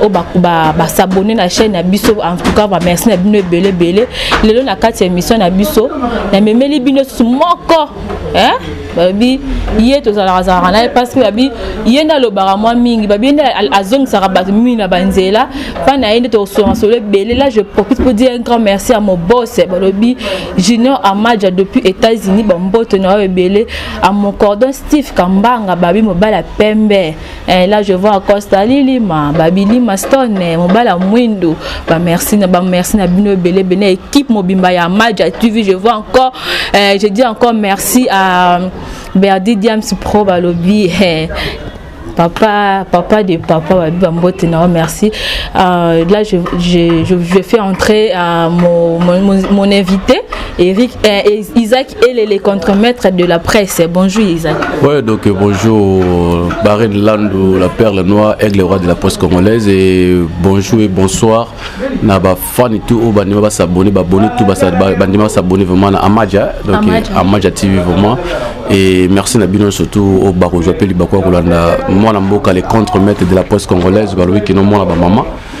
oyo basabone na chaîne na biso en tout cas bamerci na bino ebele ebele lelo na kati ya émission na biso namemeli bino susu moko babi ye tozalaka azalaka na ye parce que babi ye nde alobaka mwa mingi babi ye nde azongisaka bato mingi na banzela mpa na ye nde tokosolaka solo ebele là je profite pour dire un grand merci à mon boss balobi junior amaja depuis états-unis bamboto na yo ebele à mon cordon steve kambanga babi mobali ya pembe Eh, là je vois Costa Lilima, Babilima Stone, eh, Mobala Mwindo, ba merci na ba merci na bino belé belé équipe mobimba ya Maja TV, je vois encore eh, je dis encore merci à Berdi Diams Pro Balobi eh, papa, papa de papa, merci. Euh, là, je, je, je, fais entrer euh, mon, mon, mon invité. Eric, euh, Isaac Elele contre maître de la presse. Bonjour Isaac. Ouais, donc euh, bonjour Barine Landou, la perle noire, aigle roi de la presse congolaise et bonjour et bonsoir. Na ba fan et tout, ba nima ba s'abonner, ba abonner tout, ba nima s'abonner vraiment à Amaja, donc Amaja euh, TV vraiment. Et merci na bino surtout au Bako, je m'appelle Bako Kolanda, moi na mboka les contre maître de la presse congolaise, ba lobi kino moi na ba maman.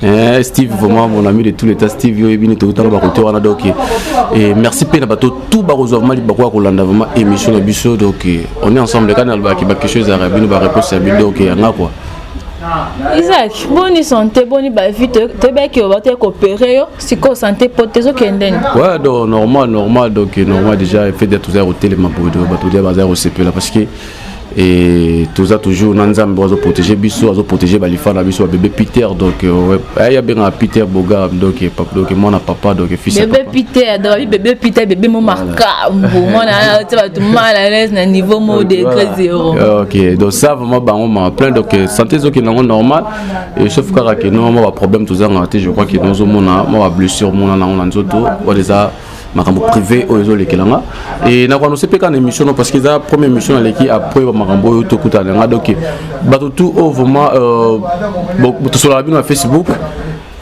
Eh, Steve vraiment mon ami de tout l'état Steve yo ebini to tanga ba côté wana donc et eh, merci pe na bato tout ba kozwa mali ba ko landa vraiment émission na biso donc eh, on est ensemble kana ba ki ba quelque chose à rabino ba réponse ya bido donc ya ngakwa isaac boni sante boni bavi toyebaki yo bataki kopere yo sikoyo sante po te ezokendeni ouais donc normal normal donc normal déjà fait de toza kotelema boye bato dia baza kosepela parce que et toza toujours na nzambe oyo azoprotege biso azoprotege balifa na biso babebe peter donc euh, aye abengaka peter boga donc mwana papa donc fisbebe peter donc bebe peter bebe mo makambo mwana otia bato mal à l'aise na niveau mo degré zéro ok donc ça vraiment bango ma plein donc euh, santé ezokende yango normal et sauf kaka ke no mwa baproblème tozangaka te je crois ke nozomona mwa bablessure mona nango na nzoto wana eza makambo privé oyo ezolekela nga e nakoanonse mpe kaka na émission no parce que eza première émission naleki après bamakambo oyo tokutana na nga donc bato tout oyo vraiment euh, tosolaka bino na facebook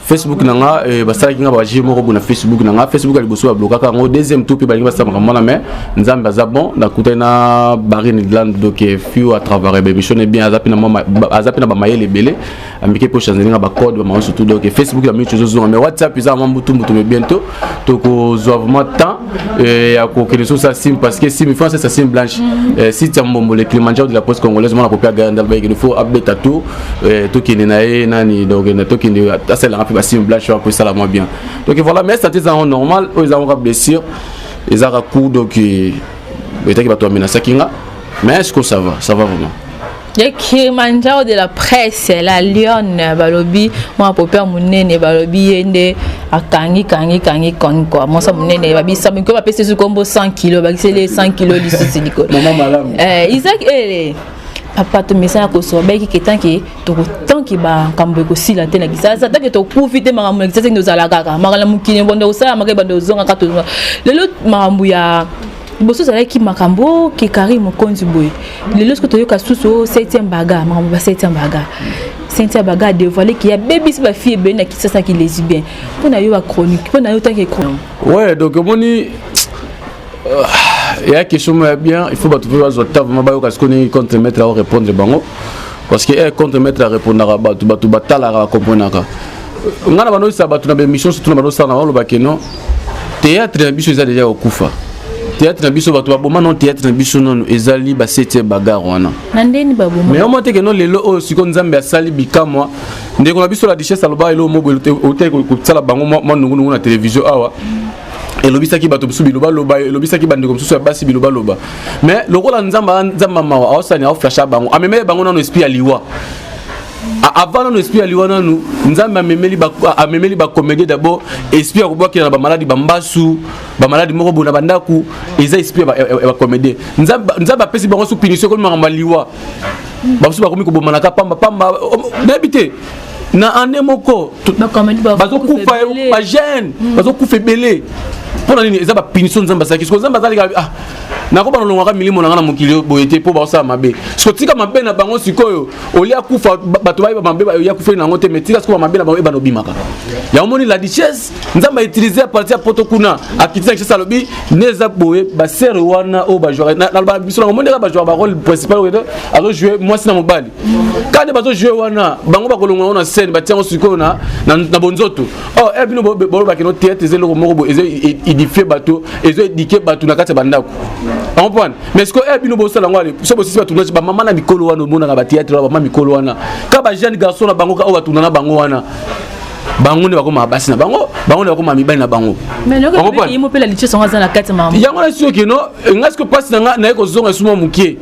facebook na nga eh, basalaki nga baje moko boye na facebook na nga facebook ya liboso bablokaka yango deuxième tour mpe balingi basala makambo wana mais nzambe aza bon nakutani na barine land doke fiu à travers eh, bemission ne bien aza mpe na bamayele ebele amike mpo change nga bacode ba maosu tout donc facebook ya mingi ozozonga mais whatsapp eza vraiment mbutumbutu mais bientôt tokozwa vraiment temps euh, ya kokende soki sa sim parce que sim france sa sim blanche mm. euh, site ya mbombo le climandjaro de la poste congolaise mwana kopia gayandal bayekende fo abeta tour euh, tokende na ye nani donc tokende asalelaka mpe basim blanche wana mpo esala mwa bien donc voilà mais sante ezango normal oyo ezango ka blessure ezaka coup donc etaki bato bamenasaki nga mais est ce que ça va ça va vraiment ya kilimanjaro de la presse la lionne balobi mwana pope ya monene balobi ye nde akangi kangi kangi koni kua mwasa monene babisabiko bapesi esu kombo 100 kilo bakiseli ye 100 kilo lisusu likolo eh, isak ele papa tomesana kosoba bayiki ke tanke tanke makambo ekosila te na kisasa tanke tokufi te makambo na kisasa nde ozala kaka makala mokili ebanda kosalamaka ebanda ozongaka tozonga lelo makambo ya liboso ezalaki makambo oh, ke carine mokonzi boye lelo soki toyoka susu o oh, septième baga makambo ba septième baga cynthia baga adevoile ke abebisi bafille ebele na kisasa ki lesibien mpo na yo bachronique mpo na yo tanke chronique ouais donc omoni ya euh, question moko ya bien il faut bato mpe bazwa ta vraimen bayoka sikoyo ndenge contre maître ao répondre bango parce que eh, contre maître arépondaka bato bato batalaka bakomprenaka ngai na bandokisa bato na baémission surtout na bandosala na bango olobake non théâtre na biso eza deja kokufa théâtre na biso bato baboma no théâtre na biso nano ezali basetie bagare wana mais omo teke no lelo oyo siko nzambe asali bikamwa ndeko na biso la duchesse aloba elo mobo otei kosala bango mwa nungunungu na télévision awa elobisaki bato mosusu bilobaloba elobisaki bandeko mosusu ya basi bilobaloba mais lokola nzambe nzambe mawa aosani aoflasha bango amemele bango nano esprit ya liwa avant nanu esprit ya liwa nanu nzambe amemeli ba, amemeli ba comédie d'abord esprit ya kobwakela na bamaladi bambasu bamaladi moko boye na bandako eza esprit ya bacomédien nzambe apesi bango so punition ekomi makambo ya liwa bamosusu bakomi kobomanaka pamba pamba nayebi te na ane moko bazokufa bagene mm. bazokufa ebele mpo na nini eza bapunition nzambe asalaki siko nzambe azalika ah, nakoba nalongwaka milimo na ngai na mokili boye te mpo baosala mabe sotika mabe na bango sikoyo olie akufa bato bayeba mabe bayoya kufa na yango te mais tika sikoyo mabe na bango ebana obimaka yango omoni la richesse nzambe autilize ya parti ya poto kuna akiti na richesse alobi ne eza boye basere wana oyo bajouaka nalobaka biso nango mondeka bajouaka barole principal oyo azojoue mwasi na mobali kani bazojoue wana bango bakolongola yango na scène batia yango sikoyo na bonzoto o oh, e eh, bino bolobaki no theatre eza eloko moko boye ezo edifie bato ezo edike bato na kati ya bandako yango mpona mais sikoyo eya eh, bino bosala yango ale so bosisi batunasi bamama na mikolo wana omonaka bateatre bamama mikolo wana ka bajeune garçon na bango ka oyo batuna na bango wana bango nde bakoma basi na bango bango nde bakoma mibali na bango yango na soki no nga siko mpasi na nga naye kozonga esuma moke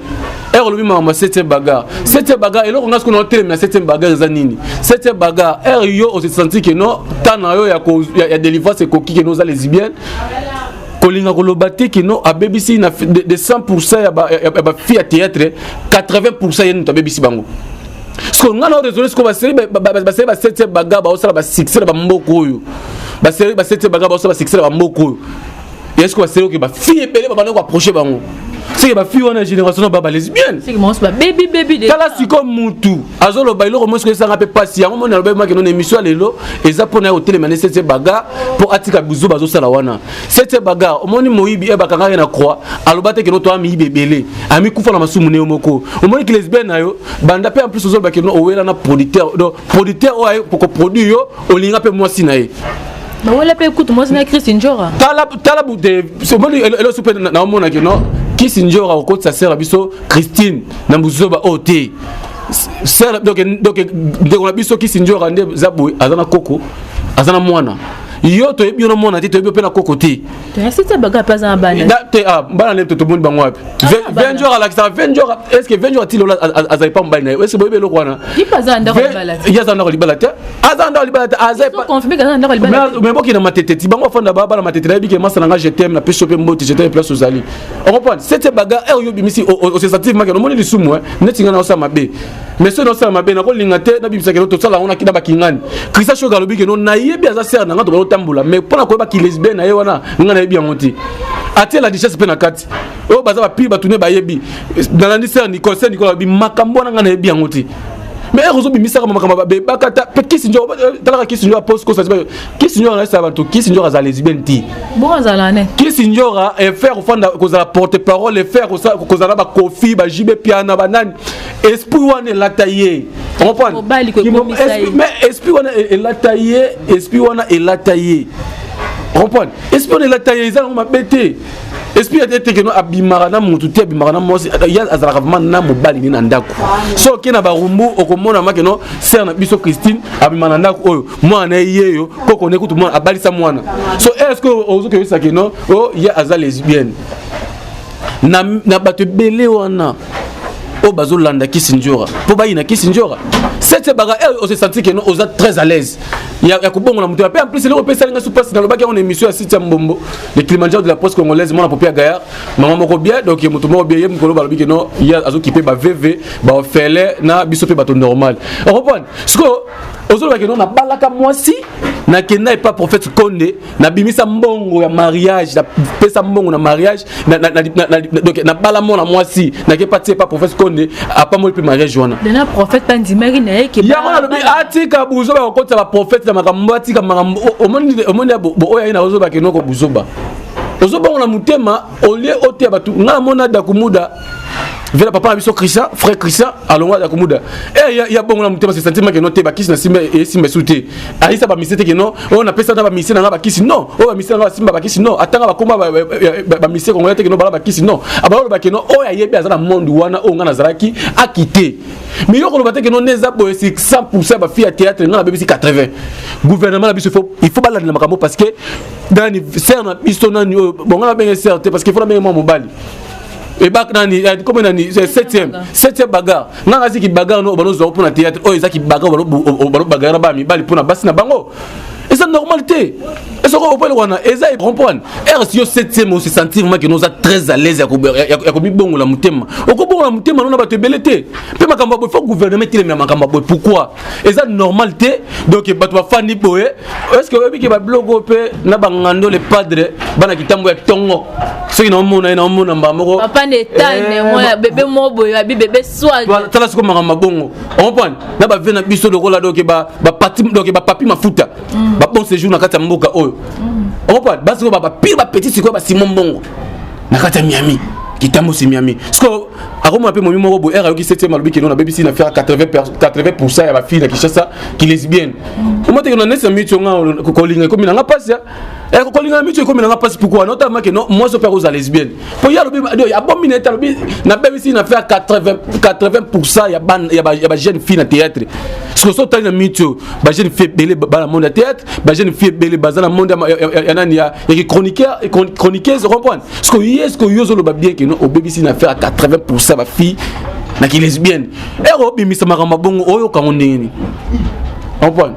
ere olobi makambo ya septième bagar septième bagar eloko nga sikoyo naotelemi na septième bagar eza nini septième bagar ere yo osesanti keno ntan na yo ya délivrance ekoki keno oza lesibienne kolinga koloba te kino abebisi na de, de 100% ya ba, ya, ya ba fille ya théâtre 80% yenu tabebisi bango siko nga na raisonne siko baseli baseli ba 7 baga baosala ba succès na bamboka oyo baseli ba 7 baga baosala ba succès na bamboka oyo ya siko baseli oke ba fille ebele babanda koapproche bango seke ba fille wana génération na ba ba lesbienne tala siko mutu azoloba eloko mosi koyesanga mpe mpasi yango moni alobaki maki nona émission ya lelo eza mpo na ye kotelema ne sete bagar mpo atika bizu bazosala wana sete bagar omoni moyibi e bakangaka ye na croix aloba te keno toa miyibi ebele amikufa na masumu ne yo moko omoni kilesbe na yo banda mpe en plus ozoloba keno owela na producteur donc producteur oyo aye koproduire yo olinga mpe mwasi na ye bawela mpe kutu mwasi na christ njora tala tala bute omoni eloso mpe naomonaki no kisi njora okotisa sere biso christine na buzoba oyo te sœur donc donc ndeko na biso kisi njora nde za boye aza na koko aza na mwana yo toyebi yo na mwana te toyebi mpe na koko te te ah, bana nde tomoni bango wapi ah, venjor alakisaka venjor est ce que venjor atili ola aza epa mobali na ye est ce boyebi eloko wana ye aza ndako libala te aza ndako libala te azameboki na matete ti bango afanda bana matete nayebi ke masa na nga je teme na pesi yo mpe mboti je teme place ozali on comprend c'est c'est bagarre eh, yo bimisi oh, oh, oh, c'est sentir maka nomoni lisumu hein neti ngana osala mabe mais soki naosala mabe nakolinga te nabimisa keno tosala yango nakina bakingani krista shoka alobi keno nayebi aza sere na ngai tobana otambola mais mpo na koyeba kilesbien na ye wana ngai nayebi yango te atie la richesse mpe na kati oyo baza bapili bato ne bayebi nalandi sere nicole sere nicole alobi makambo wana ngai nayebi yango te mais ere ozobimisaka makambo babebaka ta mpe kisi njo talaka kisi njo apose kosa kisi njora naesa bato kisi njora azala lesbienne ti bongo azala ne kisi njora efaire kofanda kozala porte parole efaire kozala bakofi bajibe piana banani esprit wana elata ye mais esprit wana e- elata ye esprit wana elata ye comprendre esprit wana elata ye eza nango mabe te esprit ete ete keno abimaka na motu te abimaka na mwasi ye azalaka vraimen na mobali ne na ndako so oke na barumbu okomona makeno sere na biso christine abima na ndako oyo mwana na ye yeyo koko ne kutu mwana abalisa mwana so est ce que ozokebisa kino o oh, ye aza lesbienne na, na bato ebele wana oyo bazolanda kisindjora mpo bayina kisindjora sete baka eh, ose sentir keno oza très à l'aise ya, ya kobongola moto mpe en plus eloko mpe esalinga supasi nalobaki yango na émission ya site ya mbombo le kilimanjaro de la poste congolaise mwana popia gayar mama moko bien donc moto moko bien ye mokolo balobi keno ye azokipe baveve baofele na biso mpe bato normal okompone sikoyo ozoloba keno nabalaka mwasi nakenda epa prophète konde nabimisa mbongo ya mariage napesa mbongo na mariage nabala mwana mwasi nake pati epa prophète konde apamoli mpe mariage wana yango nalobi atika buzoba kokotisa baprophète na makambo atika makambo omoni oyo aye na ozoba kenoko buzoba ozobongo na motema olie oteya bato ngai amona dakumuda vela papa na biso christian frère christian alongwa ya komuda e ya, ya bongo na motema se santima ke no te bakisi na simba esimba esu te ayisa bamise te ke no oyo napesa na bamise na nga bakisi non oyo bamise na nga basimba bakisi non atanga bakoma bamise kongola te ke no bala bakisi non abaloloba ke no oyo ayebi aza na monde wana oyo nga nazalaki akite mais yo koloba te ke no ne eza boye si 100 pourcent ya bafille ya théâtre nga nabebisi 80 gouvernement na biso il faut balandela makambo parce que dani ser na biso nani oyo bonga nabenge ser te parce que il faut nabenge mwa mobali ebak nani eh, comme nani 7e 7e bagarre nga ngasi ki bagarre no bano zo pona théâtre oyo ezaki bagarre bano bano bagarre ba mibali pona basi na bango eza normal te ezoko opele wana eza comprendre rs yo 7e osi sentir maki noza très à l'aise ya komibongola motema okobongola motema no na bato ebele te mpe makambo ya boye fo gouvernement etelemela makambo ya boye pourquoi eza normal te donc bato bafandi boye est ce que oyebi ke babiloko mpe na bangando le padre bana kitambo ya tongo soki naomona ye naomona mbaa moko papa na etane eh, bebe moko boye babi bebe swatala siko makambo mabongo okomprendre na bavie na biso lokola donc bapapi mafuta mm. babon séjour na kati ya mboka oyo mm. okomprendre basiko bapire bapeti sikoyo basimo mbongo na kati ya miami kitambo si miami sikoyo akoma mpe momi moko boyer ayoki 7 alobi kino nabebisi na faire 80 ya bafille na kinshasa kilesbienne omateke na nesi na miti onga kolinga ekomi nanga mpasi eh, kolinga na miti ekomi nanga mpasi pourkoi notamake no mwasi ope akozala lesbienne mpo ye alobi abomi na ete alobi nabebisi na faire 80 ya bajeune fille na théâtre soki so otali na miti oyo bajeune fille ebele bana monde ya théâtre bajeune fille ebele baza na monde ya nani ya kichroniqueuse comprendre ce que yo ce que yo ozoloba bien que non obebisi na affaire ya 80 pourcent bafille na kilesbienne ere obimisa makambo bongo oyoka yango ndenge nini comprendre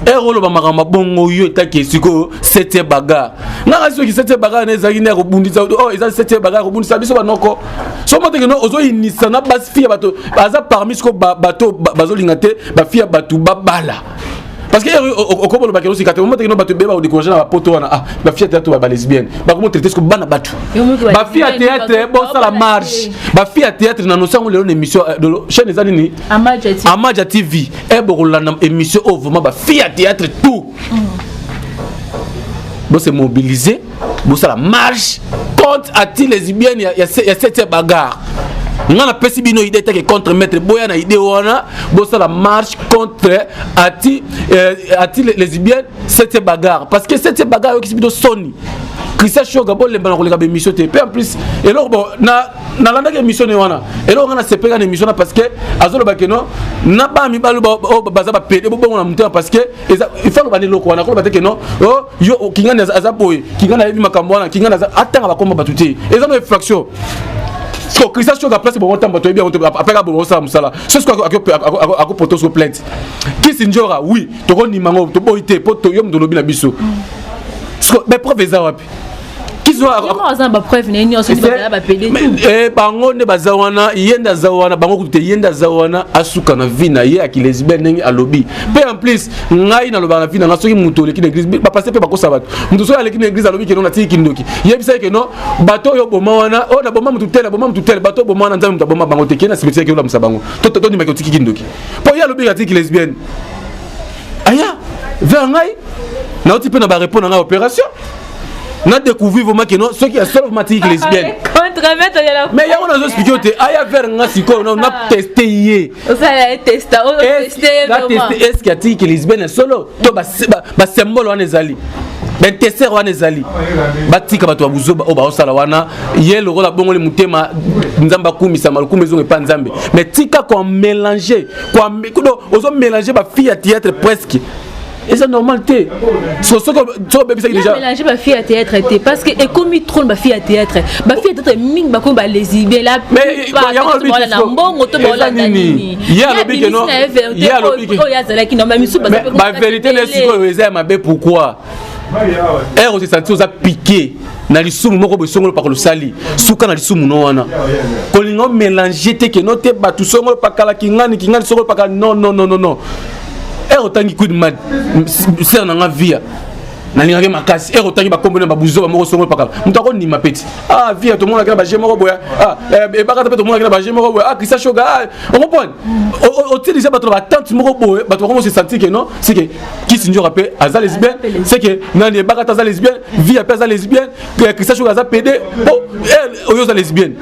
ere oloba makambo bongo yo etaki sikoyo setie bagar ngaka soki setie bagar na ezalaki nde ya kobundisa oyo eza setie bagar ya kobundisa biso banoko so moteke no ozoyinisa na basi fille ya bato aza parmi sikoyo bato bazolinga te bafille ya bato babala parce que okobo lobaki no sikate omote kino bato beba odikourage na bapoto wana ah ba fia théâtre ba lesbienne ba komo traiter ko bana bato ba fia théâtre bo sala marche ba fia théâtre na nosango lelo na émission euh, de chaîne ezali ni Amaja TV e boko landa émission au vraiment ba fia théâtre tout mm. bo se mobiliser bosala marche contre ati lesbienne ya, ya, ya sete bagarre nga napesi bino idée teke contre maître boya na idée wana bosala marche contre ati euh, ati lesbienne sete bagarre parce que sete bagarre oyokisi bino soni christian shoga bolemba na koleka baémission te mpe en plus eloko bon nalandaki émission ne wana eloko nga nasepeka na émission na parce que azoloba ke non na bana mibali oyo baza bapede bobongo na motema parce que il faut aloba na eloko wana akoloba te ke non oh, yo oh, kingani aza boye kingani ayebi makambo wana kingani aza atanga bakoma bato te eza na infraction so christian soki aplace bongo ntango bato yebi yango te apres ka bongo osala mosala so soki akopota oso plainte kisi njora oui tokonima yango toboyi te mpo yo moto olobi na biso mais preuve eza wapi Eh, bango nde baza wana ye nde aza wana bango kutu te ye nde aza wana asuka na vie na ye akilesbienne ndenge alobi mpe en plus ngai nalobaka na vie na ngai soki moto oleki na église bapaster mpe bakosa bato moto soki aleki na église alobi keno natiki kindoki yebisa ye keno bato oyo oboma wana oyo oh, naboma motu tele aboma motu tele bato oboma wana nzambe moto aboma bango te kena simetiere keno olamusa bango tondimaki otiki kindoki mpo ye alobi atiki lesbienne aya vers ngai nauti mpe na barepo na ngai opération na découvrir vraiment que non soki ya solo matiki lesbienne mais yango nazo explike yo te aya vers nga sikoyo na ah. teste ye eske atiki lesbienne ya solo to basymbole wana ezali bainteser wana ezali batika bato ya buzoba oyo baosala wana ye lokola bongoli motema nzambe akumisama lokumu ezonga epa nzambe mais tika koamélange ozo mélange bafille ya théâtre presque eza normal te soki obebisaki dejamélange bafille ya théâtre te parce que ekomi trone bafille ya théâtre bafille ya théâtre mingi bakomi balesibien la plupart na mbongo to baolanda nini ye alobi keno ye alobi oyo azalaki na misusu bavérité na sikoyo eza ya mabe pourquoi ere eh, osesanti oza pike na lisumu moko boye songolo pakala osali suka na lisumu no wana kolinga omelange te keno te bato songolo pakala kingani kingani songolo pakala non non non non ere otangi quid mad sere na nga via nalingaki makasi ere otangi bakombo na babuzoba moko songo epakala moto akondima peti ah via tomonaki na baje moko boya ah, eh, ebakata mpe tomonaki na baje moko boya ah krista shoga ah, okomprendre otilisa bato na batante moko boye bato bakomo se sentir ke non seke kisi njoka mpe aza lesbienne seke nani ebakata aza lesbienne via mpe aza lesbienne eh, Christian Choga aza pede po oh, eh, oyo oza lesbienne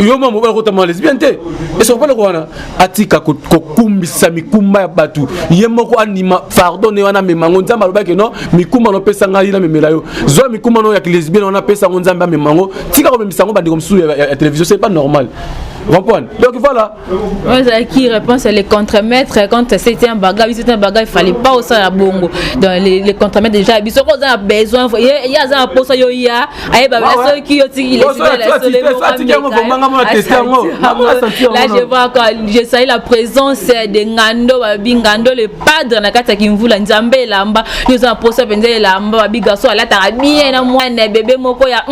yo mama obala kotama lesbienne te esokopala ko wana atika kokumbisa mikumba ya bato ye moko andima fardo ne wana amema yango nzambe alobaki no mikumba no pesa ngai namemela yo zwa mikumba no ya lesbienne wana pesa yango nzambe amema yango tika komemisa yango bandeko mosusu ya televizio c'est pas normal comprendre donc voilà oyo ezalaki réponse ya le contremaître quand c'était un baga biso te baga efale pas osala bongo donc le contremaître déjà biso ko oza na besoin ye aza na mposa yo ya ayeba soki yo tiki là je vois encore je sali la présence de ngando babi ngando le padre na kati ya kimvula nzambe elamba yo oza na mposa mpenza elamba babi garçon alataka bien na mwana bebe moko ya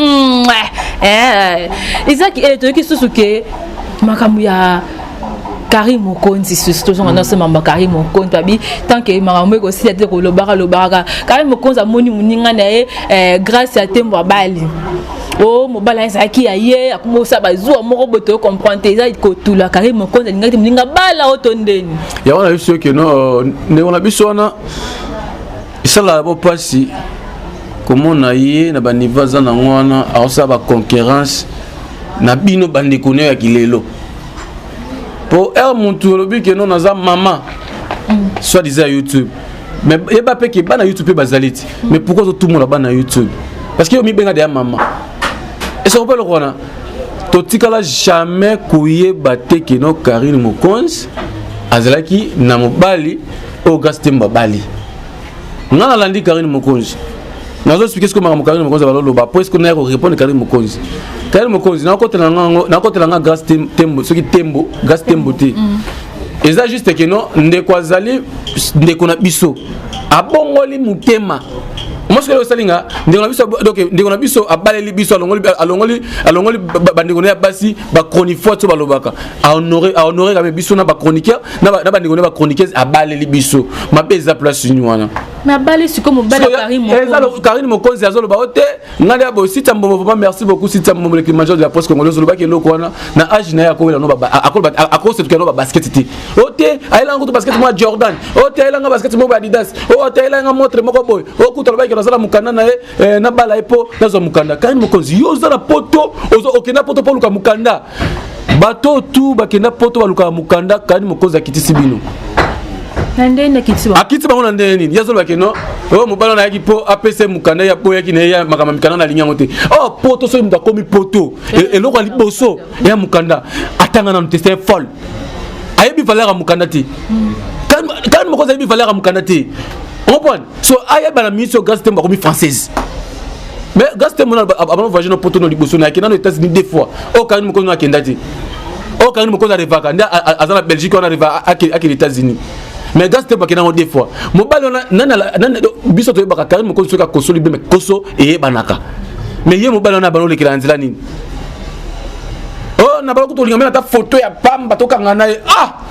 ezaki toyoki susu ke makambo ya kari mokonzi susu tozonga nyonso mambo ya kari mokonzi babi tant que makambo ekosila te kolobaka lobaka kari mokonzi amoni moninga na ye eh, grâce ya tembo abali o oh, mobali azalaki ya ye akomosa bazuwa moko boye toyo comprendre te eza kotula kari mokonzi alingaki te moninga bala o to ndeni yango na biso keno ndeko na biso wana esalaka bo mpasi komona ye na banivo aza nango wana akosala baconkurrence na bino bandeko nayo ya kilelo mpo r mutu olobi keno naza mama mm. soit disant ya youtube mais yeba mpe ke bana youtube mpe bazali ti mm. mais pourkoi ozotumola bana youtube parce que yo mibenga deya mama esoko mpe eloko wana totikala jamais koyeba te keno karine mokonzi azalaki na mobali oyo grace tembo abali nga nalandi karine mokonzi nazo explike sikoyo makambo karine mokonzi baloloba mpo esiko naya korepondre karine mokonzi karine mokonzi nakotela ngango nakotela nga grace tembo soki tembo grace tembo te mm. eza juste ke no ndeko azali ndeko na biso abongoli motema mwasi oyo osali nga ndeko na biso donc ndeko na biso abaleli biso alongoli alongoli alongoli bandeko na ye ya basi bachronifoite oyo balobaka a honore a honore kame biso na ba chroniqueur na ba na ba ndeko na ba chroniqueuse abaleli biso mabe eza place ni wana na bali siko mobala Karine Mokonzi eza lo Karine Mokonzi azo loba ote ngali abo sita mbombo vraiment merci beaucoup sita mbombo le climateur de la presse congolaise loba ke loko wana na age na yako wela no ba akoloba akose tuka no ba basket ti ote ayela ngo to basket mo Jordan ote ayela ngo basket mo Adidas ote ayela ngo montre moko boy okuta loba ke nazala mukanda na ye na bala epo nazo mukanda Karine Mokonzi yo zala poto ozo okenda poto poluka mukanda bato tu bakenda poto balukaka mokanda kani mokonzi akitisi bino akiti bango na ndenge nini ye azolobake no oyo oh, mobali wana ayaki mpo apesa ye mokanda ya mpo oyaki na ye makambo mikanda na alingi yango te o oh, poto soki moto akomi poto e, eloko ya liboso ya mokanda atanga nanu te se folle ayebi valeur ya mokanda te kani mokonzi ayebi valeur ya mokanda te ompone so ayeba na ministre grace tembo akomi française mais grace tembo abana voyage na poto no liboso nayake nano états-unis deux fois oyo kangani mokonzi no akenda te oyo kangani mokonzi arevaka nde aza na belgique wana areva akende états-unis mais grace tembo akenda yango deux fois mobali wana biso toyebaka kangani mokonzi soki akosoli beme koso eyebanaka mais ye mobali wana abana olekela na nzela nini oyo oh, na bala kutolinga mena ata foto ya pamba tokanga na ye ah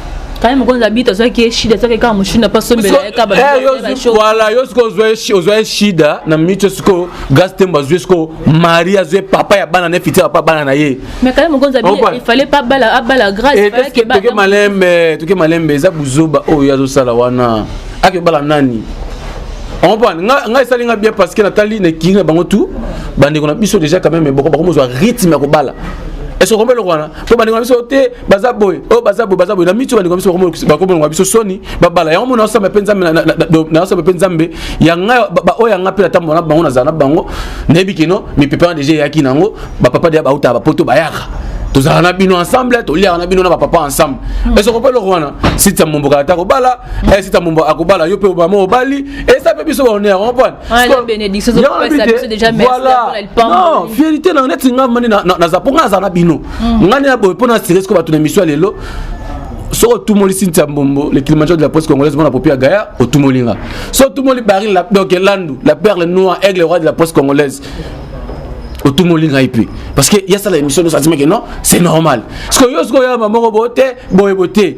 kaye mokonzi abiti azwaki ye shida azwaki kaka moshina mpo asombela ye kabawala yo sikoyo ozwa ye shida na minute sikoyo gas tembo azwi sikoyo mari azwi papa ya bana na ye fiti papa bana na ye mais kaye mokonzi abifale mpe abala abala gracetoke malembe toke malembe eza buzoba oyo ye azosala wana akebala nani comprendre nga nga esali nga bien parce que natali na kingi na bango tout bandeko na biso déjà quand même boko bakomozwa rythme ya kobala est ce que okombe eloko wana mpo bandeko na biso te baza boye oyo oh, baza boye baza boye na mitu bandeko biso bakomonaka biso soni babala yango mona osamba mpe nzambe naosamba mpe nzambe ya ngai baoyo ya ngai mpe natambola na bango nazala na bango nayebi kino mipepe wana deja eyaki na yango bapapa deya bautaka bapoto bayaka tozalaka na bino ensemble toliaka na bino na bapapa ensemble hmm. esoko mpe eloko wana sita mombo kala ta kobala hmm. eh, sita mombo akobala yo mpe obama obali esa mpe biso baonea comprendre voilà non fiérité na neti nga mani naza mpo nga naza na bino mm. ngai na boye mpo na asire siko bato na emission ya lelo soki otumoli sintia mbombo le kilimanjaro de la presse congolaise mona popi ya gaya otumoli nga so otumoli baril donc landu la perle noir aigle roi de la presse congolaise otumoli ngai mpe parce que yasala émission nyonso azimaki non c'est normal sikoyo yo sikoyo yamba moko boye te boye boye te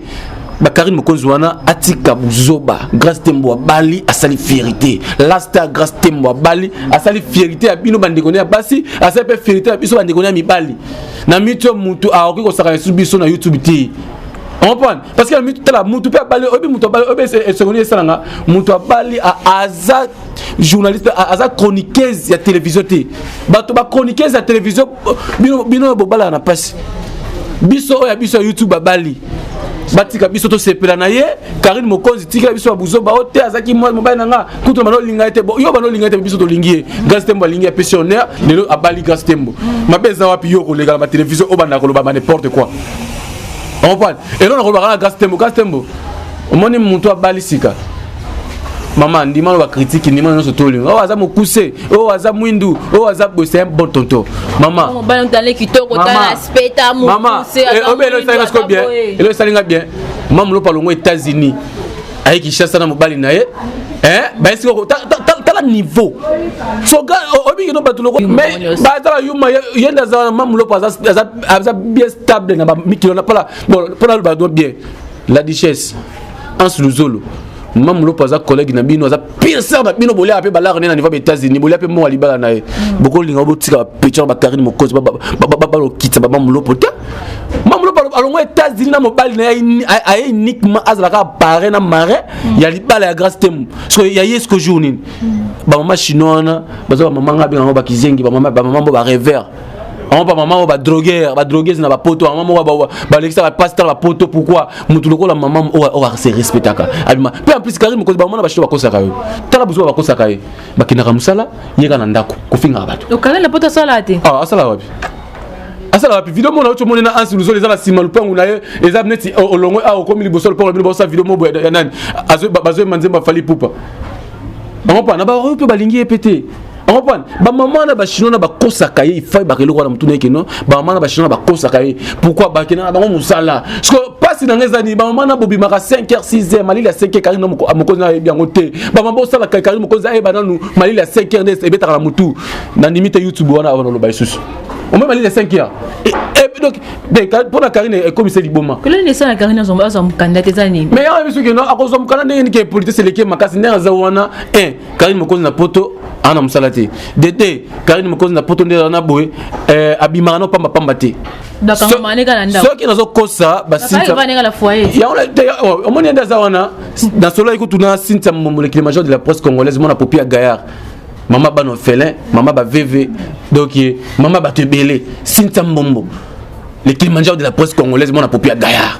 bakarine mokonzi wana atika buzoba grace tembo abali asali fierité lasta grace tembo abali asali fierité ya bino bandeko ne ya basi asali mpe fierité ya biso bandeko ne ya mibali na mitu ya motu akoki kosaka lisusu biso na youtube te comprendre parce que na mitu tala motu mpe abali oyebi motu abali oyebi esengo nini esalanga motu abali aza journaliste aza chroniqueuse ya télévision te bato ba chroniqueuse ya télévision bino, bino bobalaka na mpasi biso oyo ya biso ya youtube babali batika biso tosepela na ye karine mokonzi tikela biso babuzoba o te azalaki mobali na nga kutu bana olinga ye te yo bana olinga ye te biso tolingi ye grace tembo alingi ye apesi honneur lelo abali grace tembo mabe eza wapi yo koleka na batelevizio oyo banda koloba ba n'importe quoi elona kolobaka na gas tembo gas tembo omoni moto abali sika mama ndima no bakritike ndima nyonso tolinga oyo aza mokuse oyo aza mwindu oyo aza boye c'est un bon tonto mama obele esalinga siko bien elo esalinga bien mama lopa longo états-unis aye kinshasa na mobali na ye eh, bayesi koko tala niveau soka oyebi kino bato loko mais baza bayuma ye nde aza mamu loko aza bien stable na bamikilo na pala mpo naloba do bien la duchesse anse luzolo mamu loko aza collègue na bino aza pire sœur na bino bolia pe balar ne na niveau ba États-Unis bolia pe mo alibala na ye boko linga bo tika picture ba Karine Mokozi ba ba ba ba lokitsa ba mamulopo te mamulopo alongo États-Unis na mobali na ye aye uniquement azalaka pare na mare ya libala ya Grace Temu so ya Yesu ko jour nini ba mama chinois wana baza ba mama nga benga ngo ba kizengi ba mama ba mama bo ba rêveur bango ba mama oyo ba drogueur ba drogueuse na bapoto mama moko balekisa ba pasteur bapoto pourquoi motu lokola mama oyo ase respectaka abima mpe en plus kari mokonzi bango na bashito bakosaka yo tala busu bakosaka ye bakendaka mosala yeka na ndako kofingaka bato okala na poto asala te ah, asala wapi asala wapi video mona oco moni na ansi luzolo eza na nsima lupangu na ye eza neti olongwe awa okomi liboso lupangu na bino baosa video mobo ya nani bazoyemba nzembo afali pupa bango mpa na baoyo mpe balingi ye mpe te okomprendre bamama na bachinois na bakosaka ye ifai baka eloko wana motuna yeke no bamama na bachinois na bakosaka ye pourkui bakendaka bango mosala siko mpasi na ngai eza nini bamama na bobimaka 5 heure 6 heure malili ya 5 heure karine mokonzi ayebi yango te bamama bosalaka karine mokonzi ayeba nanu malili ya 5 heure nde ebetaka na motu nandimi te youtube wana oloba lisusu omoi malili ya 5 heure donc mpo na karine ekomisa liboma kolani esala karine azwa mokanda te eza nini mais yango yebi soki akozwa mokanda ndenge nini ke politese eleki makasi ndenge aza wana Karine Mokonzi na poto ana mosala te dete Karine Mokonzi na poto nde na boye eh, abimaka no pamba pamba te soki nazokosa baomoni ende aza wana nasololaki kutuna sintia molekile major de la presse congolaise mwana popi ya gayard mama bana ofelin mama baveve donc mama bato ebele sintia mbombo le kilimanjaro de la presse congolaise mwana popi ya gayard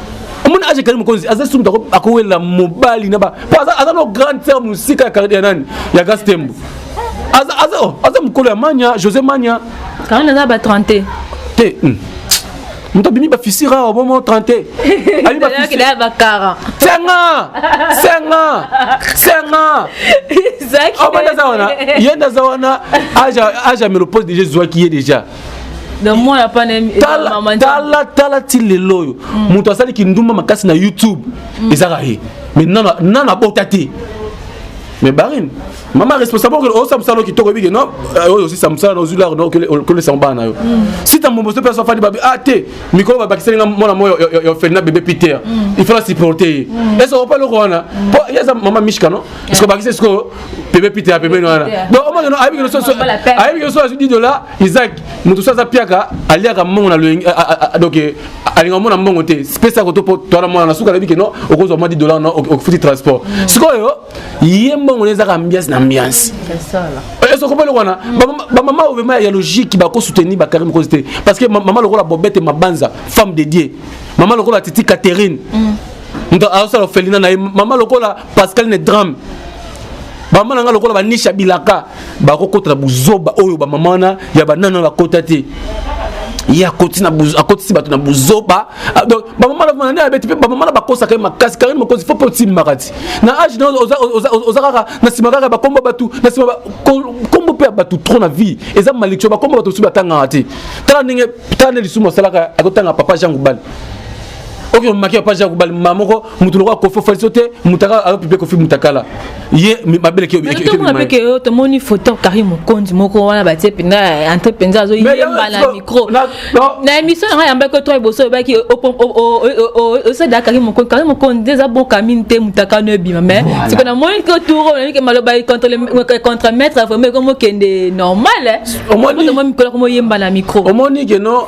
omoni age kali mokonzi aza sumu tako akowelela mobali na ba po aza aza no grande sœur mosika ya carrière nani ya gastembo aza aza oh, aza mokolo ya mania josé mania kala naza ba 30 te hmm. moto abimi bafisire awa bomo 30 senga senga senga obanda aza wana ye nde aza wana age ya melopose deja ezwaki ye deja tala tala ti lelo oyo mm. moto asali kindumba makasi na youtube mm. ezaka ye mais nana abota te mais barine mama responsable okele osa mosala kitoko ebike no euh, oyo osisa mosala na ozwi laro okolesamo bana na yo mm. sita mbombo so mpenso afandi babi ah te mikolo babakiseli nga mwana mo ya ofelina bebe peter mm. il faut na supporte ye ese okopa eloko wana mpo ye aza mama mishka no eske obakisi sikoyo pebe pite ya pembeni wana donc omoni no ayebi kinoso ayebi kinoso azwi di dola isaac moto so aza piaka aliaka mbongo na loyenge donc alinga omona mbongo te pesa yako to po toana mwana na suka alobi ke no okozwa mwa di dola no ofuti transport mm. sikoyo ye mbongo ne ezaka ambiance na ambiance ezo ko belo wana ba mama obema ya logique ba ko soutenir ba Karim cause te parce que mama lokola bobete mabanza femme de Dieu mama lokola titi Catherine mm. ndo asala felina na ye mama lokola pascal ne drame bamama na ngai lokola banisha bilaka bakokota na buzoba oyo bamama wana ya banana bakota te ye akotisi bato na buzoba ah, donc bamama na bana ya beti mpe bamama na bakosaka ye makasi karine mokonzi fo mpe otimbaka ti na age na oza kaka na nsima kaka bakombo bato na nsima kombo mpe ya bato trop na vie eza malecture bakombo bato mosusu batangaka te tala ndenge tala nde lisumu asalaka akotanga papa jean gubal oke omaki ya page ya kobala mama moko moto lokola kofi ofali so te mutaka ayopipe kofi mutakala ye mabele keomape yo tomoni photo kari mokonzi moko wana batie mpenza entre mpenza azoyemba na micro na émission yango yambaki oto liboso oyebaki osadaka kari mokonzi kari mokonzi nde eza boka mini te mutaka no ebima mais siko namoni ke tour oyebike maloba contre maître vraiment ekomokende normal omoni mikolo komoyemba na micro omoni keno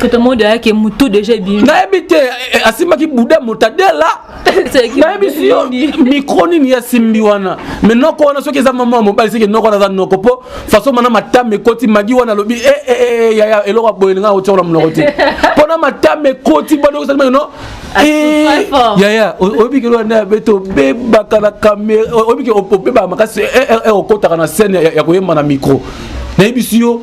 Tata Modo ayaki mutu deja ebimi. Nayebi te eh, eh, asimbaki buda motadela. Nayebi si yo micro nini ya simbi wana. Me noko wana soki eza mama mobali seke noko wana aza noko po façon mana matama ekoti magi wana alobi eh eh eh, eh yaya eloko boye nga otyola munoko te. Po na matama ekoti bana kozali mano no. Eh yaya oyebi ke wana beto bebaka na kamera oyebi ke obeba makasi eh eh okotaka na scène ya koyemba na micro. nayebisi yo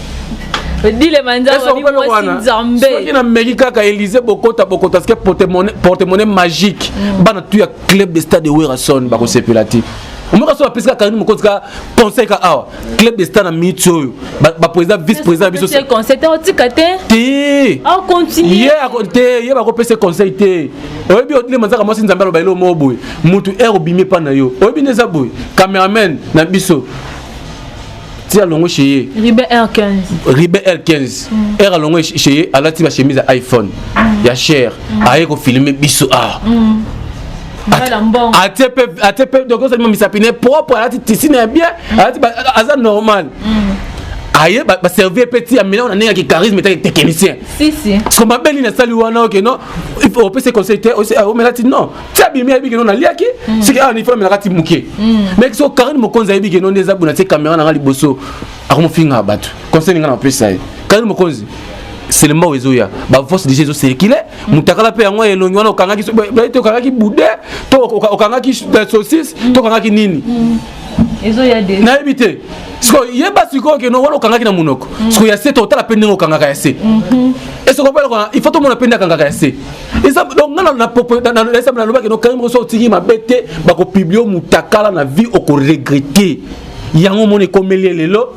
dile manzasoki na meki kaka elise bokota bokota sike portemone magique mm. bana tu ya club de stade de werrason bakosepela te omoka so bapesi kaka moko tika conseil ka awa club de stade na minute oyo baprésident vice président na biso te ye bakopesa conseil te oyebi otile manzaka mwasi nzambe aloba eloo moko boye motu aire obimi epa na yo oyebi nde eza boye cameraman na biso ti alongwe chez ye ribe l15 r alongwe chez ye alati ba chemise ya iphone mm. ya cher mm. aye kofilme biso awa mm. atie mpe donc ozalima misapi ne propre alati tisine ya bien alati aza normal aye baservir mpe ti ya milango na ndenge ya kicharisme etaki technicien siko mabe nini asali wana oke non opesi conseil te omela ti non ti abimi ayebi keno naliaki mm. siki awa nifo namelaka ti moke mm. mais so karine mokonzi ayebi keno nde eza bona ti kamera na ngai liboso akomofinga bato conseil ninga na mapesa ye karine mokonzi selema oyo ezoya baforce déjà ezosekile mutakala mpe yango elongi wana okangaki te okangaki bude to okangaki saucisse to okangaki nini nayebi te sikoyo yeba sikoyo keno wana okangaki na monoko sikoyo ya se to otala mpe ndenge okangaka ya se esoko mpe il faut tomona mpe nde akangaka ya se eza donc nga na popo na na exemple na lobaki no karim roso otiki mabe te bako publier mutakala na vie oko regretter yango moni ekomeli lelo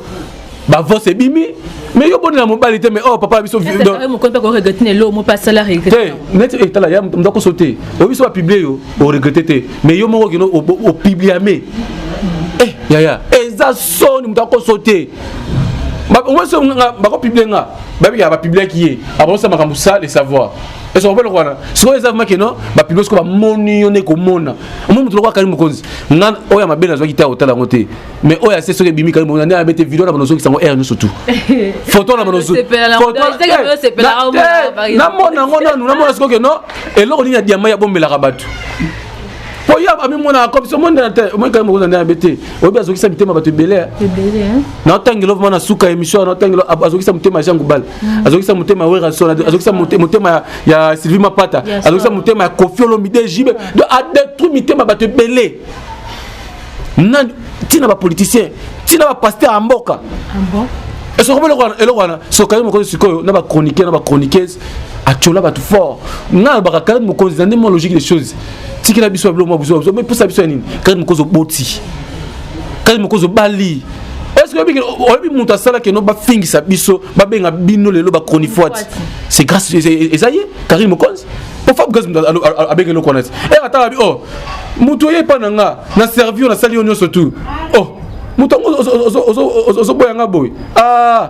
ba voice ebimi mais yo bonela mobali te mais oh papa biso mokoni mpe koregrete na eloo mope asala regrete neti etala ya moto akoso te oyo biso bapublie yo oregrete te mais yo moko okino opubliame eh yaya eza soni moto akoso te bakomosa nga bakopiblie nga babika bapibliaki ye akomosa makambo sa le savoir ese kopela kwana sikoyo eza vmake no bapiblie sikoyo bamoni yo nde komona omoni moto lokola kali mokonzi nga oyo ya mabe nazwaki te akotala yango te mais oyo ase soki ebimi kali mokonzi nde abe te video na banozokisa yango aire nyonso tu foto na banozonamona yango nanu namona sikoyo ke no eloko nini ya diama ya bombelaka bato po yo amimonaka comme so mondela te omoi kaka mokoza ndela be te oyebi azokisa mitema bato ebele naotangelo vraimen na suka émission naotangelo azokisa motema ya jean goubal mm. azokisa motema ya werrason azokisa motema ya sylvie mapata azokisa motema ya kofi olomide jibe do adetruit mitema bato ebele nani ntina bapoliticien ntina bapaster ya mboka esokomi eloko wana sokayo mokozi sikoyo na bachroniquer na bachroniqueuse atyola bato fort ngai alobaka kala mokonzi na nde mwa logique des choses tikela biso babilo mwa buzoba buzoba posa biso ya nini kati mokozi oboti kati mokozi obali oyebi moto asalaki no bafingisa biso babenga bino lelo bachronifuati c'est grâce eza ye karine mokonzi po fab gaz moto abenga eloko wana ti e ata abi o moto oye epa na nga na servio nasali yo nyonso tu o moto yango ozoboya nga boye ah,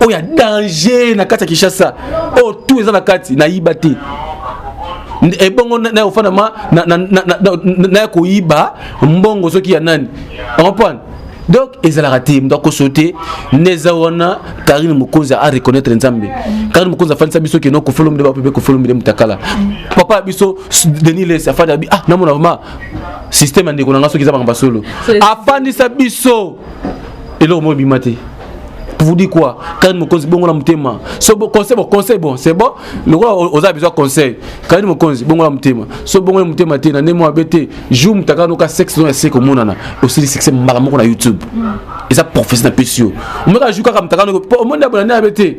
oyo ya danger na kati ya kinshasa oyo tout eza na kati nayiba te ebongo eh, naye ofanda ma naye koyiba mbongo soki ya nani comprendre donc ezalaka te moto akoso te neza wana karine mokonzi a reconnaître nzambe karine mokonzi afandisa biso keno kofolomide bapepe kofolomide motakala papa ya biso denis les afandi abi ah namona vraimen système ya ndeko na ngai soki eza makambo ya solo afandisa biso eloko moko ebima te vous dit quoi Karine Mokonzi bongo la mutema so bon conseil bon conseil bon c'est bon le roi oza besoin conseil Karine Mokonzi bongo la mutema so bongo la mutema te na nemo abete jour mutaka noka sexe no ya seko monana aussi succès mbala moko na YouTube et ça professionnel pesio meka jour kaka mutaka no po monde abona na abete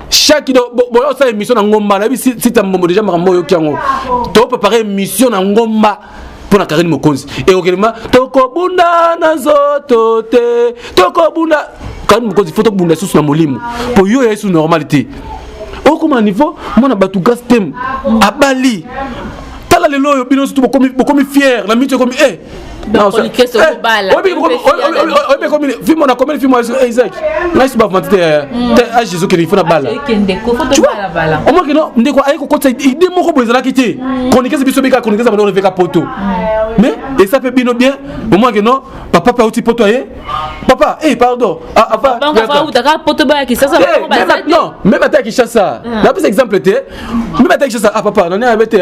chaque do boya osala émission na ngomba nayebi sita mbombo déjà makambo oyoki yango topepare émission na ngomba mpo na karine mokonzi ekokelema tokobunda na nzoto te tokobunda karine mokonzi fo tokobunda lisusu na molimo mpo yo ya lisusu normal te okoma niveau mwana bato gas tem abali tala lelo oyo bino sutu bokomi fiere na miti ekomi e eh, fimo na komeli fimo isaac ngai suba vuma te a jésus kende ifo na bala omaki no ndeko aye kokotisa ide moko boye ezalaki te konikese biso bika konikesa bana oleveka poto mais esa mpe bino bien omaki no papa mpe auti poto aye papa e pardon meme ata ya kinshasa napesa exemple te meme ata ya kinshasa a papa nani ayabe te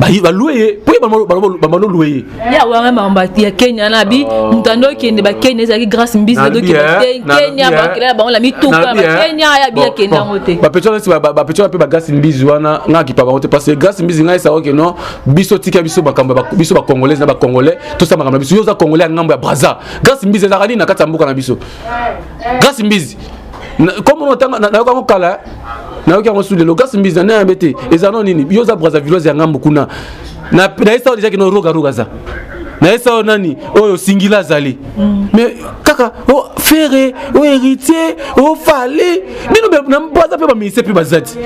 balue ye mpo ye bamano lue ye ya wana mambo ya kenya na bi oh. moto ando okende bakenya ezalaki grâce mbisi dokenda te kenya bakela ya bango na mituka bakenya ya bi akende yango te bapetiola mpe bagrâce mbisi wana ngai akipa bango te parce que grâce mbisi ngai esaka oke non biso tika biso makambo biso bacongolaise na bacongolais tosala makambo na biso yo oza congolais ya ngambo ya braza grâce mbisi ezalaka nini na kati ya mboka na biso grâce mbisi comme otanga nayoka yango kala nayoki yango su lelo kasi mbizi na nayambe ete eza no nini yo oza brazavilloise ya ngambo kuna nayesa oyo dejaki no rogaroga aza nayesa oyo nani oyo singila azali mm. mais kaka o oh, fere o oh, héritier o oh, fale bino baza mpe baministre mpe baza ti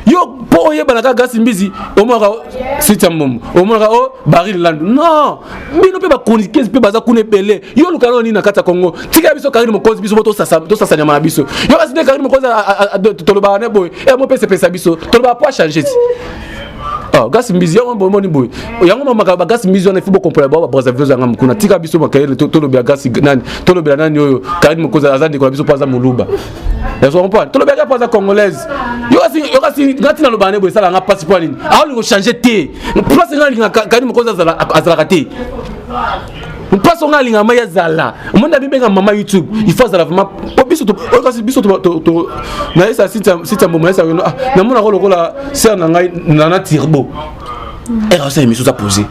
yo mpo oyebana kaka gasi mbizi omonaka siti ya mbombo omonaka o baril landu non bino mpe bachroniqueuse mpe baza kuna ebele yo oluka nao nini na kati ya congo tikela biso karine mokonzi biso mpo tosasa nyama na biso yo kasi nde karine mokonzi tolobaka ne boye e mopesepesa biso tolobaka mpo achange ti ah, gasi mbizi yango bomoni boye yango mamaka bagasi mbizi wana ifo bokompola bao babrasavilos yanga mokuna tika biso makayele tolobela gasi nani tolobela nani oyo karine mokonzi aza ndeko na biso mpo aza moluba ezo comprendre tolobaki mpo aza congolaise yokasi ngati naloba ne boye esala nga mpasi mpo nini aolingo change te place nga alinga kani mokonzi azalaka te place onga alinga mai azala omoni na bibenga mama youtube il faut azala vraiment po biso kasi biso nayesa site ya mboma yesa namonaka lokola ser na ngai nana tirbo era asala emission oza posé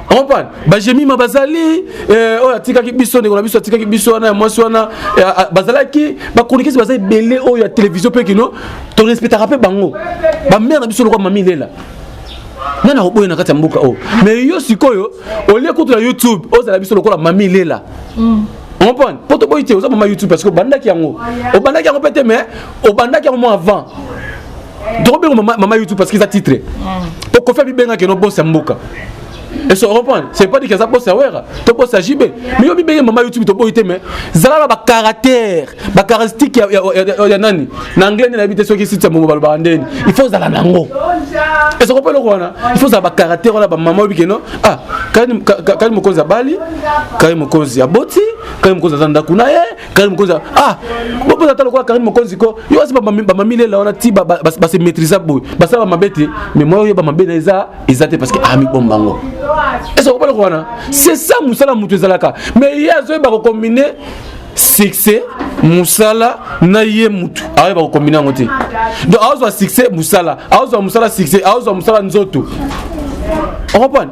opan bajemima bazali eh, oyo atikaki biso ndeko na biso atikaki biso wana ya mwasi wana eh, ah, bazalaki bachroniquese baza ebele oyo ya télévision mpe kino torespectaka mpe bango bamere na biso lokwa mami lela nani akoboya na kati ya mboka oyo mais yo sikoyo olie kutu na youtube ozala biso lokola mami lela mm. comprendre mpo toboyi te oza mama youtube parce que obandaki yango obandaki yango mpe te mais obandaki yango mwa avant tokobenga mama, mama youtube parce que eza titre mm. okofi abibengaki no bosi ya mboka ese oreprendre c'est pas dit que aza bosi ya wera to bosi ya jb mais yo bibenge mama youtube toboyi te mais zala na bacaractère bacaractéristiques ya, ya, ya, ya, ya nani na anglais nde nayebi te soki site ya momo balobaka ndeni il faut ozala na yango ese okopa eloko wana il faut ozala bacaractère wana bamama oyebi keno ah kani mokonzi abali kani mokonzi aboti kani mokonzi aza ndako na ye Karine Mokonzi ah bopoza ata lokola Karine Mokonzi ko yo asi bamamilela wana ti base maîtrisa boye basala bamabe te mais mwa oyo bamabe na eza eza te parce que amibomba ah, yango esa kopala ko wana c'est ça mosala moto ezalaka mais ye azoyeba kokombine succès musala na ye mutu ayeba kokombine yango te donc azwa succès musala azwa musala succès azwa musala nzoto okompane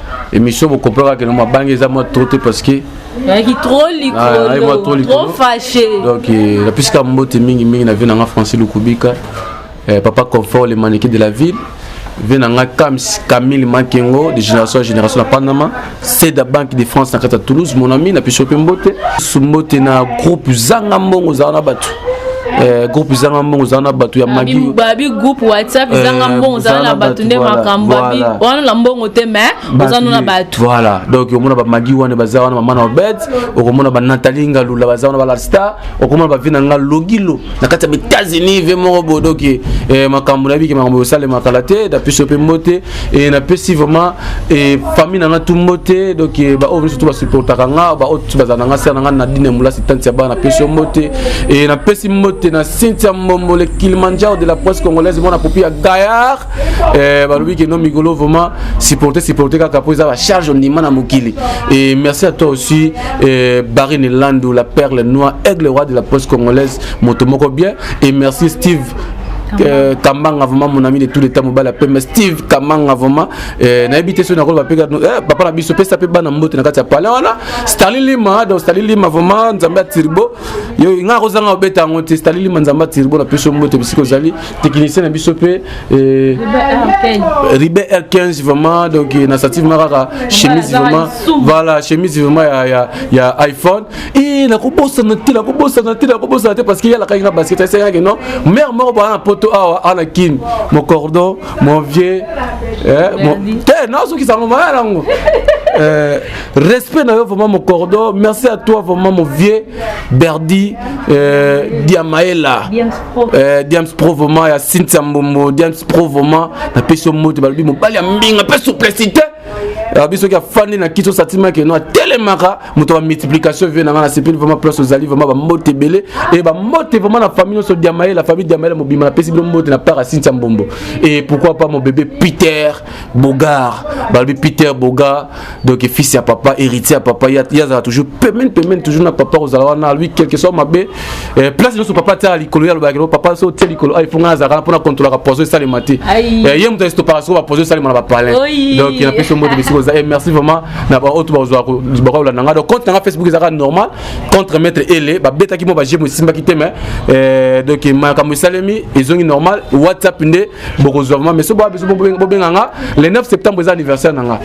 emission bokompaka keno mabange eza mwa trop te parce que ayaki trop likolo trop fâché donc euh, napisika mbote mingi mingi na vie na nga francis lukubika euh, papa confort le manike de la ville vie na nga camille makengo de génération ya génération na panama seda banque de france na kati ya toulouse mon ami napesi yo mpe mbote mbote na groupe zanga mbongo ozala na bato Eh, groupe ezanga mbongo eza na bato ya magi babi groupe whatsapp ezanga eh, mbongo eza na bato nde makambo babi wana na mbongo te mais oza no na bato voilà donc omona bamagi wana baza wana mama na obed okomona banatali ngalula baza wana balastar okomona bavi na nga logilo na kati ya baetats-unis ve moko bodoki eh, makambo na yebiki makambo osalemaka la te dapiso mpe mbote e napesi vraiment e famille na nga tumbo te donc e, baoyo nyonso to basupportaka nga baoyo nyonso bazala na nga sere na nga na dine molasi tanti ya bana napesi yo mbote e napesi mbote na cynthia mbombo le kilimanjaro de la presse congolaise mwana popi ya gayar e, balobi keno mikolo vraiment supporte supporte kaka mpo eza bacharge ondima na mokili e merci à toi aussi e, barine landu la perle noire aigle roi de la presse congolaise moto moko bien et merci steve Euh, Kambanga vraiment mon ami de tous les temps mobile appelle mais Steve Kambanga vraiment euh, na habité sur na ko bapeka euh, papa na biso pesa pe bana mbote na kati ya pale wana Stanley Lima donc Stanley Lima vraiment nzamba turbo yo nga ko zanga obeta ngo te Stanley Lima nzamba turbo na peso mbote bisiko zali technicien na biso pe euh, Ribe R15 vraiment donc na sative maraka chemise vraiment voilà chemise vraiment ya ya, ya iPhone Eh, nakobosana te nakobosana te nakobosana te parce que yalakaki nga basket asengaki non mare moko baa na poto awa ah, ana kin mon cordon mon vieux eh, te nazokisa yango maya nango Euh, respect na yo vraiment mon cordon merci à toi vraiment mon vieux berdi euh, diamaela euh, diams pro vraiment ya cynthia mbombo diams pro vraiment napesi yo moto balobi mobali ya mbinga mpe souplicité biso ki afandi na kiti osatimaki no atelemaka moto ya multiplication vie na ngai nasepeli vraiment place ozali vraiment bambote ebele e bambote vraiment na famille nyonso diamaye la famille diamaye mobima napesi bino mbote na part ya sintia mbombo e pourquoi pas mon bébé peter bogar balobi peter bogar donc fils ya papa héritier ya papa ye azala toujours pemene pemene toujours na papa kozala wana lui quelque soit mabe Eh, place nyonso papa atyaka likolo ye alobaka papa so otye likolo aifo ngai nazalaka na mpo na kontrolaka poison esalema te eh, ye moto esitopaka soko bapoison esalema na bapalin donc napesi mbote bisika oza eh, merci vraiment na baoyo to bakolanda ngai donc compte na ngai facebook ezalaka normal contre maître ele babetaki mwa bajemo esimbaki te mais donc makambo esalemi ezongi normal whatsapp nde bokozwa vraiment mais so boya biso bobenga nga le 9 septembre eza anniversaire na nga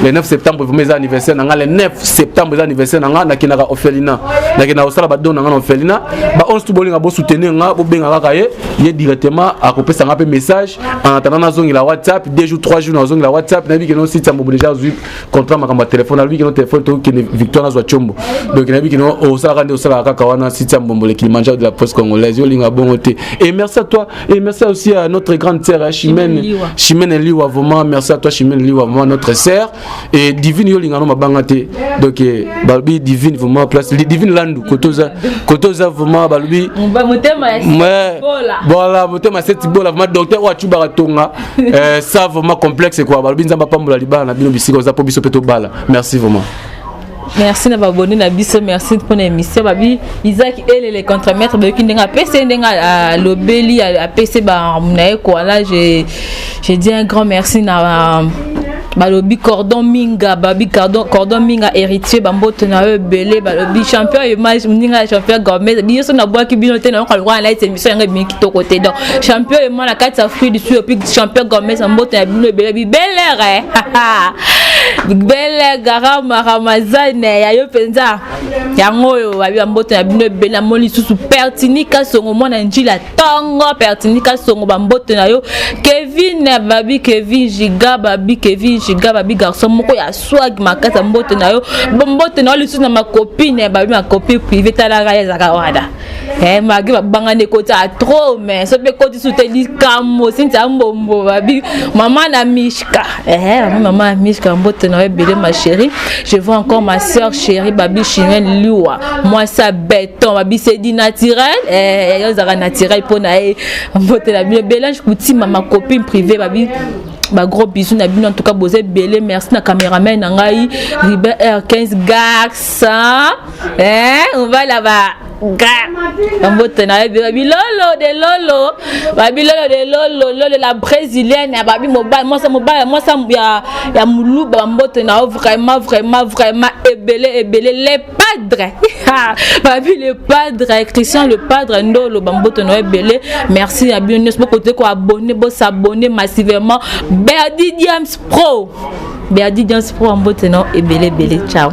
le 9 septembre vraiment eza anniversaire na nga le 9 septembre eza anniversaire na nga nakendaka orphelina nakendaka kosala badon na nga na orphelina ba 11 tu bolinga bosoutenir nga bobenga kaka ye ye directement akopesa nga mpe message en attendant nazongela whatsapp deux jours trois jours nazongela whatsapp nayebi keno site ya mbobo déjà azwi contrat makambo ya telefone alobi keno telefone tokokende victoire nazwa combo donc nayebi keno osalaka nde osalaka kaka wana site ya mbombo le kilimanjaro de la poste congolaise yo olinga bongo te et merci à toi Et merci aussi à notre grande sœur hein, Chimène Chimène Liwa vraiment merci à toi Chimène Liwa vraiment notre sœur et Divine yo lingano mabanga te donc eh, balobi Divine vraiment place Divine Landu kotoza kotoza vraiment balobi motema ya voilà motema cette bola vraiment docteur wa chuba tonga euh, ça vraiment complexe quoi balobi nzamba pambola libala na bino bisika oza po biso pe to bala merci vraiment merci na babone na biso merci mpona émission babi isaki elele contre maître bayoki ndenge apesi ye ndenge alobeli apesi baarme na ye koala je dis un grand merci na balobi cordon minga babi cordon, cordon minga héritier bamboto na yo ebele balobi champion moninga ya champion gormet biso nabwaki bino te nayoka lokola nayeti émission yango ebimi kitoko te donc champion ema na kati ya fruit du sud epi champion gomesa mboto ya bino ebele bibelere bele garama ramazane ya yo mpenza yango oyo babi bamboto na bino ebele namoni lisusu pertini kasongo mwana njila ntongo pertini kasongo bamboto na yo kevin babi kevin jiga babi kevin jiga babi garçon moko ya swag makasi ya mboto na yo mboto na yo lisusu na makopine babi makopine prive talaka ezaka wana Eh, magi babangani ekotisa trop mais soki ekotisi te likambo sintia mbombo babi mama na mishka eh, mama na mishka mbote na yo ebele ma chérie je vois encore ma soeur chérie babi chimene liwa mwasi ya beton babi sedi naturel eh, yo ozalaka naturel mpo na ye mbote na bino belange kutima ma copine privée babi ba gros bisous na bino en tout cas boza ebele merci na cameraman na ngai ribe r 15 gaxa eh mobali aba ga bambote na yebi babilolo de lolo babilolo de lolo lolo la brésilienne ya babi mobali mwasa mobali mwasa ya, ya moluba bambote na yo vraiment vraiment vraiment ebele ebele le padre babi le padre christian le padre nde oloba mboto na yo ebele merci na bino nyonso bokote koabone bosabone massivement berdi diams pro berdi diams pro mbote na yo ebele ebele ciao